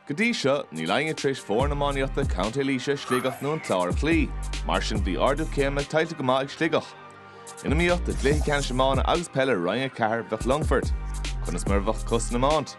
Go dtí seo, níl éinne tar éis foireann iománaíochta Contae Laoise, Sligeach nó an Clár a chloí. Mar sin bhí ardú céime tuillte go maith ag Sligeach. In iomaíocht i gcluiche ceannais iomána agus peile Roinn 4 bheadh Longfort. Conas mar a bheadh acu san iomáint?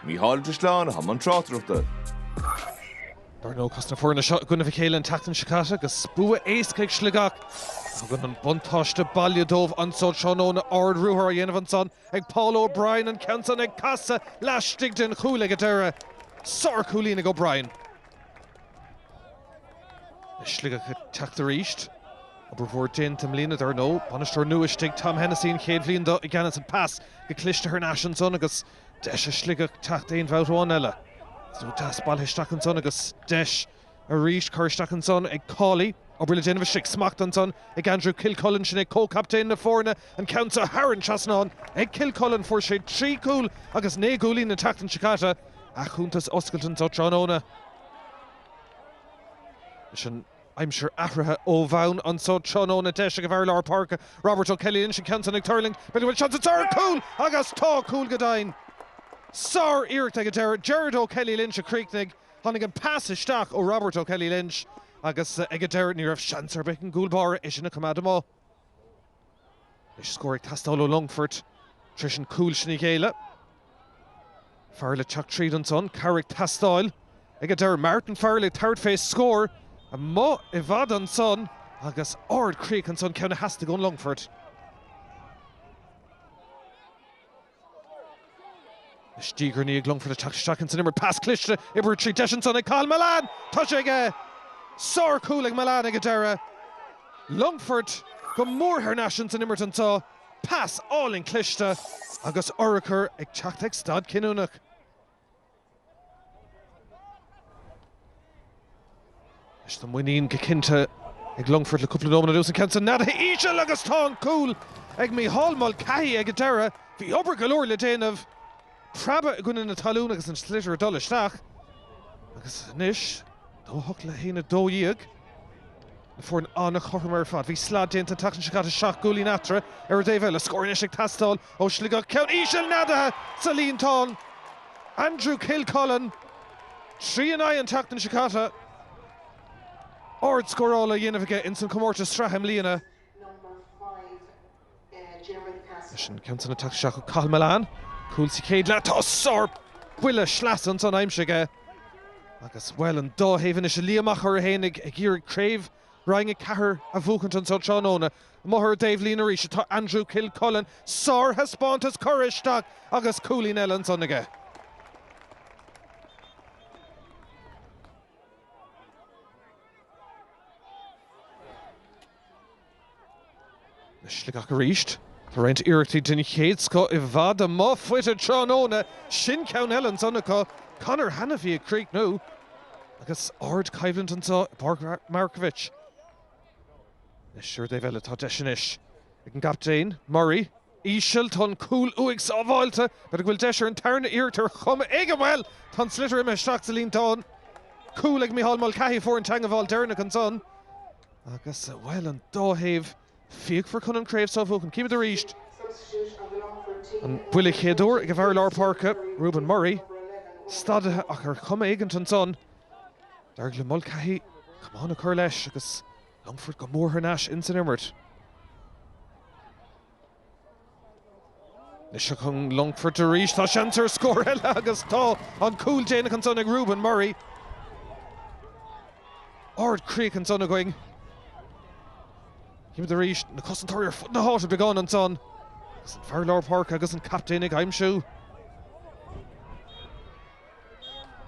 Mícheál Ó Drisleáin atá i mbun tráchtaireachta. Dar ndóigh chas na foirne seo i gcoinnibh a chéile an tseachtain seo caite agus bua éasca ag Sligeach. Tugann an buntáiste baile dóibh anso tráthnóna ard-ruathar á dhéanamh ansan. Ag Paul O'Brien an ceann san ag casadh laistigh den chúl ag an deireadh. Sárchúilín ag O'Brien. Le Sligeach ag teacht arís. Obair mhór déanta i mbliana dar ndóigh. Bainisteoir nua istigh, Tom Hennessy an chéad bhliain do i gceannas an pas go cliste thar n-ais ansan agus deis ag Sligeach teacht aon bhabhta amháin eile. Is ó deas bailithe isteach ansan agus deis. Arís cur isteach ansan ag Cawley. Obair le déanamh istigh, smacht ansan ag Andrew Kilcullen, sin é comhchaptaen na foirne, an ceann san thar an trasnán ag Kilcullen. Fuair sé trí chúl agus naoi gcúilín an tseachtain seo caite. A chuntas oscailte anso tráthnóna leis an aimsir athraithe ó bhonn. Anso tráthnóna deis ag an bhfear lár páirce, Robert O'Kelly Lynch, an ceann san ag tuirlingt, b'fhéidir go bhfuil seans anso ar chúl agus tá! Cúl go deimhin. Sár-iarracht ag an deireadh, Gerard O'Kelly Lynch a chríochnaigh. Tháinig an pas isteach ó Robert O'Kelly Lynch agus ag an deireadh ní raibh seans ar bith ag an gcúl báire é sin a choimeád amach. Anois scór ag teastáil ó Longfort tar éis an cúl sin a ghéilleadh. Farrell ag teacht tríd ansan, cabhair ag teastáil ag an deireadh. Martin Farrell ag tabhairt fé scór amuigh i bhfad ansan agus ard-chríoch ansan, ceann a theastaigh ón Longfort. Is diaidh ar ndiaidh Longfort ag teacht isteach ins an imirt. Pas cliste, oibrithe tríd, deis ansan ag Cathal Mullane. Tá sé aige! Sár chúl ag Mullane ag an deireadh. Longfort go mór thar n-ais ins an imirt anso. Pas álainn cliste agus urchar ag teacht ag staid chinniúnach. Is tá muinín go cinnte ag Longfort le cúpla nóiméad anuas, an ceann san neadaithe íseal agus tá an cúl ag Micheál Mulcahy ag an deireadh. Bhí obair go leor le déanamh, preabadh i gcoinne na talún agus an sliotar ag dul isteach. Agus anois, 2-8 le 1-12. Foireann an-chothrom ar fad. Bhí slad déanta an tseachtain seo caite, seacht gcúilín eatarthu. Ar an taobh eile, scór anois ag teastáil ó Shligeach, ceann íseal neadaithe sa líontán. Andrew Kilcullen, 3-9 an tseachtain seo caite. Ard-scóráil á dhéanamh aige ins an chomórtas sraithe i mbliana. Leis an gceann san ag teacht isteach acu Cathal Mullane,, cúl sa chéad leath. Tá sár buille sleasa an san aimsire aige agus bhuel an dá thaobh anois a Liam Mhic Craith féinig ag iarraidh craobh Roinn 4 a bhuachaint an so tráthnóna. Amuigh ar an dtaobhlíne arís atá Andrew Kilcullen. Sár thaispeántas curtha isteach agus cúilín eile an san aige. Do Shligeach arís. Tá roinnt iarrachtaí den chéad scoth i bhfad amuigh faighte tráthnóna. Sin ceann eile ansan acu. Conor Hanniffy ag críochnú. Agus ardchoimhlint anseo i bPáirc Markievicz. Anois ar an dtaobh eile tá deis anois ag an gcaptaen, Murray. Íseal. Tá an cúl uaidh sábháilte. B'fhéidir go bhfuil deis ar an tarna iarracht ar chuma éigin. Bhuel! Tá an sliotar imithe isteach sa líontán. Cúl ag Micheál Mulcahy a fuair an teangmháil deireanach ansan. Agus, bhuel, an dá thaobh fíochmhar chun an chraobh seo a bhuachan. Címid arís an buille chéaduair ag an bhfear lár páirce, Reuben Murray, stadaithe ach ar chuma éigint ansan, d'éirigh le Mulcahy camán a chur leis agus Longfort go mór thar n-ais ins an imirt. Anois ach an Longfort arís, tá seans ar scór eile agus tá an cúl déanach ansan ag Reuben Murray. Ard críoch ansan againn. Címid arís na cosantóirí ar fud na háite beagán ansan. Agus an fear lár páirce agus an captaen ag aimsiú.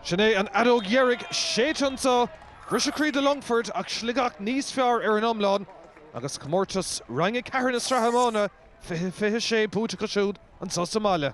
Sin é an fheadóg dheiridh séidte anseo. Briseadh croí do Longfort ach Sligeach níos fearr ar an iomlán agus comórtas Roinn 4 na Sraithe Iomána 2026 buaite acu siúd anseo sa mbaile.